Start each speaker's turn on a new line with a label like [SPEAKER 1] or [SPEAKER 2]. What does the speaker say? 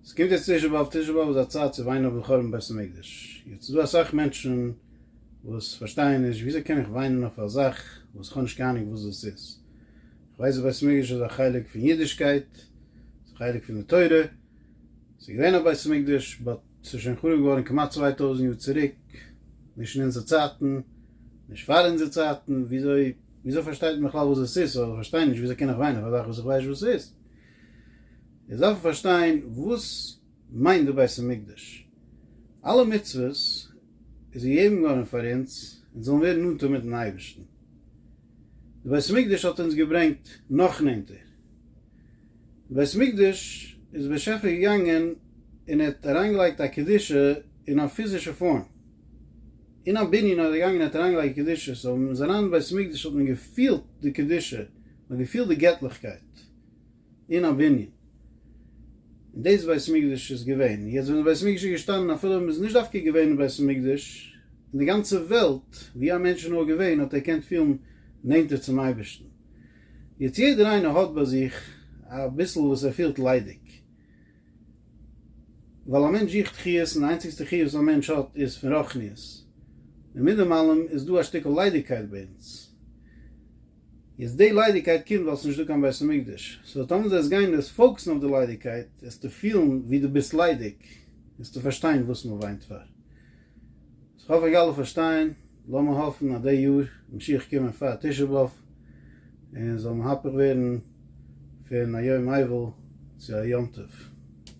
[SPEAKER 1] ס'קומט יעצט תשעה באב, תשעה באב איז א צייט צו וויינען אויפן חורבן בית המקדש, יעצט איז דא אסאך מענטשן וואס פארשטייען נישט וויאזוי קען איך וויינען אויף א זאך וואס כ'האב נישט קיין אהנונג וואס דאס איז, כ'ווייס אז בית המקדש איז א חלק פון אידישקייט, ס'איז א חלק פון די תורה, ס'איז געווען א בית המקדש באט ס'איז שוין חרוב געווארן כמעט צוויי טויזנט יאר צוריק, נישט אין אונזער צייטן, נישט פאר אונזער צייטן, וויאזוי וויאזוי פארשטייט מען בכלל וואס דאס איז, סאו כ'פארשטיי נישט וויאזוי קען איך וויינען אויף א זאך וואס איך ווייס נישט וואס ס'איז. אונז דארפן פארשטיין וואס מיינט די בית המקדש. אלע מצוות איז געגעבן געווארן פאר אונז אונז זאלן ווערן נאנטער מיטן אייבערשטן. די בית המקדש האט אונז געברענגט נאך נענטער. די בית המקדש איז דער באשעפער געגאנגען און ער האט אריינגעלייגט א קדושה אין א פיזישע פארם. אין א בנין איז ער געגאנגען און ער האט אריינגעלייגט קדושה. סאו ווען מ'איז אריין אין בית המקדש האט מען געפילט די קדושה, מ'האט געפילט די געטליכקייט. אין א בנין, און דאס בית המקדש איז געווען, יעצט ווען די בית המקדש איז געשטאנען אפילו אויב איז נישט דווקא געווען אין בית המקדש, אין די גאנצע וועלט ווי א מענטש איז נאר געווען האט ער געקענט פילן נענטער צום אייבערשטן, יעצט יעדער איינער האט ביי זיך אביסל וואס ער פילט ליידיג, ווייל א מענטש זוכט חיות און די איינציגסטע חיות וואס א מענטש האט איז פון רוחניות, און מיט דעם אלעם איז דא א שטיקל ליידיגקייט ביי אונז. יעצט די ליידיגקייט קומט ווייל עס איז נישט דא קיין בית המקדש, סאו טאמער דו וועסט גיין וועסט פאוקסן אויף די ליידיגקייט וועסטו פילן ווי דו ביסט ליידיג, וועסטו פארשטיין וואס מען וויינט פאר. איך האף איך גיי אלע פארשטיין, לאמיר האפן אז די יאר משיח קומען פאר תשעה באב און זאל מהפך ווערן פון א יום אבל צו א יום טוב.